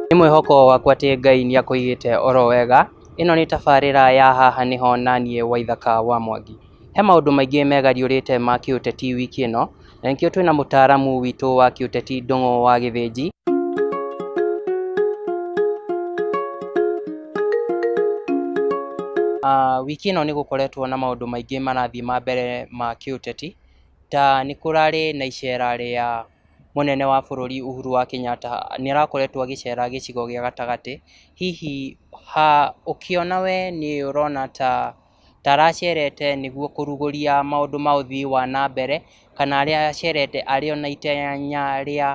Nĩ mwĩhoko wakwa atĩ Ngai nĩ akũigĩte oro wega. Ĩno nĩ tabarĩra ya haha nĩho na niĩ Waithaka wa Mwangi. He maũndũ maingĩ megariũrĩte ma kĩũteti wiki ĩno, na nĩkĩo twĩna mũtaaramu witũ wa kĩũteti Ndũng'ũ wa Gĩthĩnji. Ah, wiki ĩno nĩ gũkoretwo na maũndũ maingĩ marathiĩ ma mbere ma kĩũteti ta nĩ kũrarĩ na icera rĩa mũnene wa bũrũri Uhuru wa Kenyatta nĩ arakoretwo agĩcera gĩcigo gĩa gatagatĩ hihi ha ũkĩona we nĩ ũrona ta ta aracerete nĩguo kũrugũria maũndũ ma ũthii wa na mbere kana arĩa acerete arĩ ona itanya rĩa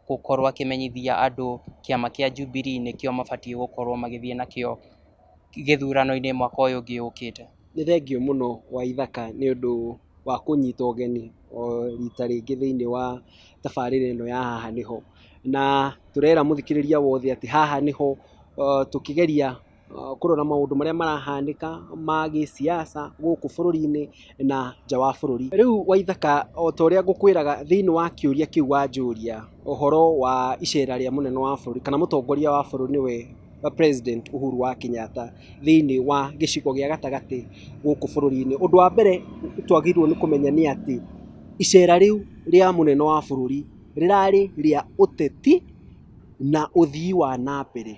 gũkorwo akĩmenyithia andũ kĩama kĩa Jubilee nĩkĩo mabatiĩ gũkorwo magĩthiĩ nakĩo gĩthurano-inĩ mwaka ũyũ ũngĩ ũkĩte. Nĩ thengiũ mũno Waithaka nĩ ũndũ wa kũnyita ũgeni o rita rĩngĩ thĩinĩ wa tabarĩra ĩno ya Haha Nĩho. Na tũrera mũthikĩrĩria wothe atĩ haha nĩho tũkĩgeria kũrora maũndũ marĩa marahanĩka ma gĩsiasa gũkũ bũrũri-inĩ na nja wa bũrũri. Rĩu Waithaka o ta ũrĩa ngũkwĩraga thĩinĩ wa kĩũria kĩu wanjũria ũhoro wa icera rĩa mũnene wa bũrũri kana mũtongoria wa bũrũri nĩwe president Uhuru wa Kenyatta thĩinĩ wa gĩcigo gĩa gatagatĩ gũkũ bũrũri-inĩ. Ũndũ wa mbere twagĩrĩirwo nĩ kũmenya nĩ atĩ icera rĩu rĩa mũnene wa bũrũri rĩrarĩ rĩa ũteti na ũthii wa na mbere.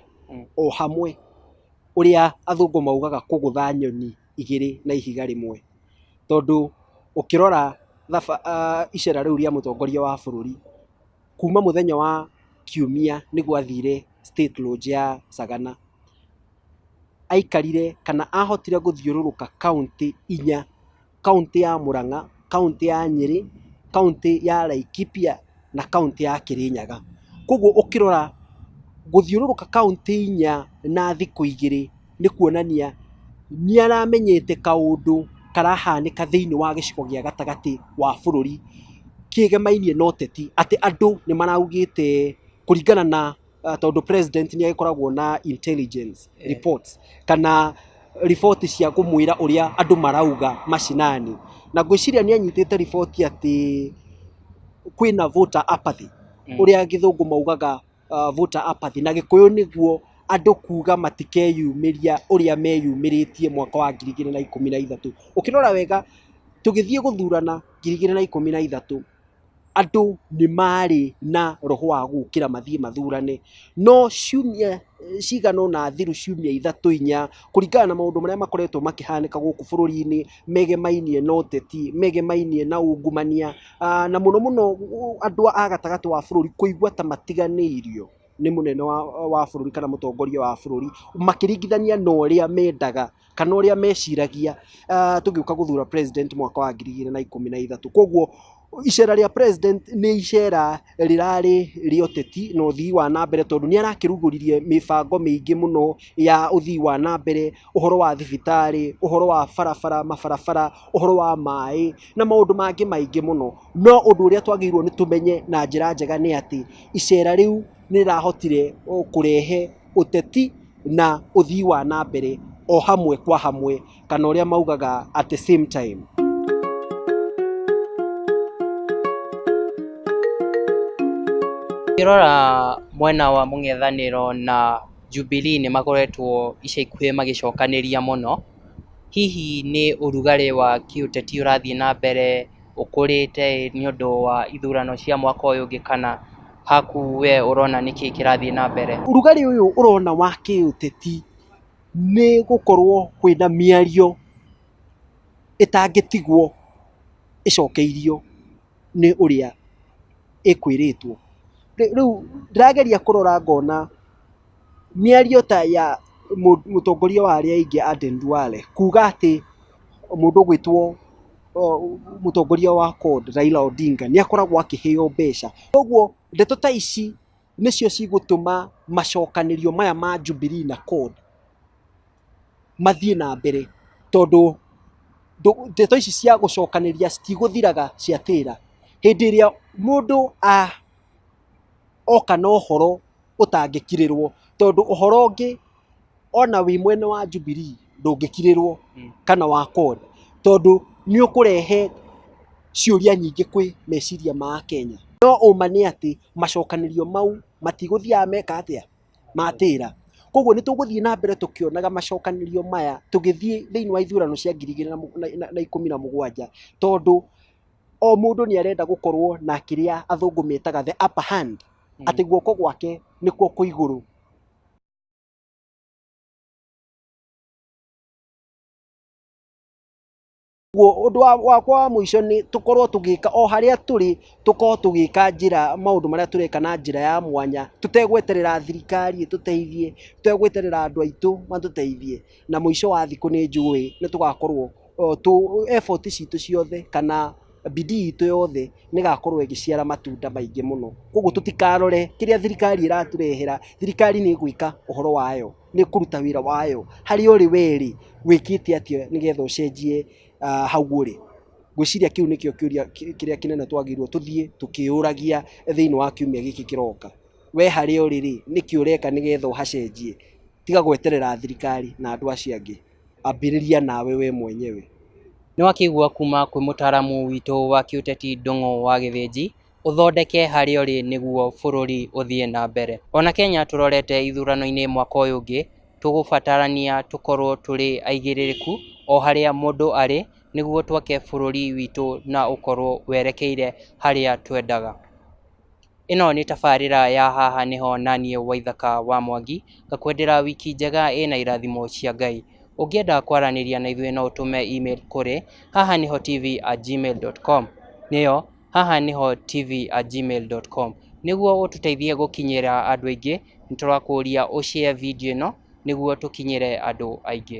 o hamwe ũrĩa athũngũ maugaga kũgũtha nyoni igĩrĩ na ihiga rĩmwe, tondũ ũkĩrora icera rĩu rĩa mũtongoria wa bũrũri, kuma mũthenya wa kiumia nĩguo athire State Lodge ya Sagana, aikarire kana ahotire gũthiũrũrũka kauntĩ inya. kauntĩ ya Mũrang'a, kauntĩ ya Nyĩrĩ, kauntĩ ya Laikipia na kauntĩ ya Kĩrĩnyaga. Koguo ũkĩrora gũthiũrũrũka kauntĩ inya na thikũ igĩrĩ nĩ kuonania nĩ aramenyete kaũndũ karahanĩka thĩiniĩ wa gĩcigo gĩa gatagatĩ wa bũrũri kĩgĩmainie na ũteti atĩ andũ nĩ maraugĩte kũringana na... ah, tondũ president nĩ agĩkoragwo na intelligence Eh. reports kana riboti cia kũmwĩra ũrĩa andũ marauga mashinani na ngwĩciria nĩ anyitĩte riboti atĩ kwĩna voter apathy Mm. ũrĩa gĩthũngũ maugaga uh, voter apathy na gĩkũyũ nĩguo andũ kuga matikeyumĩria ũrĩa meyumĩrĩtie mwaka wa ngiri igĩrĩ na ikũmi na ithatũ ũkĩrora wega tũgĩthiĩ gũthurana ngiri igĩrĩ na ikũmi na ithatũ andũ nĩ marĩ na roho wa gũkĩra mathiĩ mathurane, no ciumia cigana ũna thiru ciumia ithatũ inya, kũringana na maũndũ marĩa makoretwo makĩhanĩka gũkũ bũrũri-inĩ, megemainie na ũteti, megemainie na ungumania, na mũno mũno andũ a gatagatĩ wa bũrũri kũigua ta matiganĩirio nĩ mũnene wa bũrũri kana mũtongoria wa bũrũri, makĩringithania na ũrĩa mendaga. kana ũrĩa meciragia ah, tũgĩũka gũthura president mwaka wa ngiri igĩrĩ na ikũmi na ithatũ koguo icera rĩa president nĩ icera rĩrarĩ rĩa ũteti na ũthii wa na mbere tondũ nĩ arakĩrugũririe mĩbango mĩingĩ mũno ya ũthii wa na mbere ũhoro wa thibitarĩ ũhoro wa barabara mabarabara ũhoro wa maĩ na maũndũ mangĩ maingĩ mũno no ũndũ ũrĩa twagĩrĩirwo nĩ tũmenye na njĩra njega nĩ atĩ icera rĩu nĩ rĩrahotire o, kũrehe ũteti na ũthii wa na mbere o hamwe kwa hamwe kana ũrĩa maugaga at the same time. Ngĩrora mwena wa mũng'ethanĩro na Jubilee nĩ makoretwo ica ikuhĩ magĩcokanĩria mũno, hihi nĩ ũrugarĩ wa kĩũteti ũrathiĩ na mbere ũkũrĩte nĩ ũndũ wa ithurano cia mwaka ũyũ ũngĩ kana? haku we ũrona nĩkĩĩ kĩrathiĩ na mbere? Ũrugarĩ ũyũ ũrona wa kĩũteti nĩ gũkorwo kwĩna mĩario ĩtangĩtigwo ĩcokeirio nĩ ũrĩa ĩkwĩrĩtwo. Rĩu ndĩrageria kũrora ngona... Mĩario ta ya mũtongoria wa arĩa aingĩ Aden Duale kuuga atĩ mũndũ ũgwĩtwo mũtongoria wa CORD Raila Odinga nĩ akoragwo akĩheo mbeca. Kwoguo ndeto ta ici nĩcio cigũtũma macokanĩrio maya ma Jubilee na CORD mathiĩ na mbere tondũ ndeto ici cia gũcokanĩria citigũthiraga ciatĩra. Hĩndĩ ĩrĩa mũndũ oka na ũhoro... ũtangĩkirĩrwo, tondũ ũhoro ũngĩ ona wĩ mwena wa Jubilee ndũngĩkirĩrwo kana wa CORD, tondũ nĩ ũkũrehe ciũria nyingĩ kwĩ meciria ma Akenya. No ũũma nĩ atĩ macokanĩrio mau matigũthiaga meka atĩa? Matĩra. Kwoguo nĩ tũgũthiĩ na mbere tũkĩonaga macokanĩrio maya tũgĩthiĩ thĩinĩ wa ithurano cia ngiri igĩrĩ na ikũmi na mũgwanja, tondũ o mũndũ nĩ arenda gũkorwo na kĩrĩa athũngũ metaga the upper hand. atĩ guoko gwake nĩkuo kwĩ igũrũ. Ũndũ wakwa wa mũico nĩ tũkorwo tũgĩka o harĩa tũrĩ tũkorwo tũgĩka njĩra maũndũ marĩa tũreka na njĩra ya mwanya tũtegweterera thirikari ĩtũteithie, tũtegweterera andũ aitũ matũteithie na mũico wa thikũ nĩ njũĩ nĩ tũgakorwo, effort citũ ciothe kana... bidii itũ yothe nĩ gakorwo ĩgĩciara matunda maingĩ mũno. Koguo tũtikarore kĩrĩa thirikari ĩratũrehera, thirikari nĩ ĩgwĩka ũhoro wayo, nĩ ĩkũruta wĩra wayo. Harĩa ũrĩ we rĩ, wĩkĩte atĩa nĩ getha ũcenjie hau ũrĩ? Ngwĩciria kĩu nĩkĩo kĩũria kĩrĩa kĩnene twagĩrĩirwo tũthiĩ tũkĩyũragia thĩiniĩ wa kiumia gĩkĩ kĩroka. We harĩa ũrĩ rĩ, nĩkĩ ũreka nĩ getha ũhacenjie? Tiga gweterera thirikari na andũ acio angĩ. ambĩrĩria nawe we mwenyewe. Nĩ wakĩigua kuma kwĩ mũtaaramu witũ wa kĩũteti Ndũng'ũ wa Gĩthĩnji, ũthondeke harĩa ũrĩ nĩguo bũrũri ũthiĩ na mbere. Ona Kenya tũrorete ithurano-inĩ mwaka ũyũ ũngĩ, tũgũbatarania tũkorwo tũrĩ aigĩrĩrĩku o harĩa mũndũ arĩ, nĩguo twake bũrũri witũ na ũkorwo werekeire harĩa twendaga. Ĩno nĩ tabarĩra ya Haha Nĩho na niĩ Waithaka wa Mwangi, ngakwendera wiki njega ĩna irathimo cia Ngai. Ũngĩenda kwaranĩria na ithuĩ no ũtũme e-mail kũrĩ hahanihotv@gmail.com, nĩyo hahanihotv@gmail.com. Nĩguo ũtũteithie gũkinyĩra andũ aingĩ, nĩ tũrakũria ũ share video ĩno nĩguo tũkinyĩre andũ aingĩ.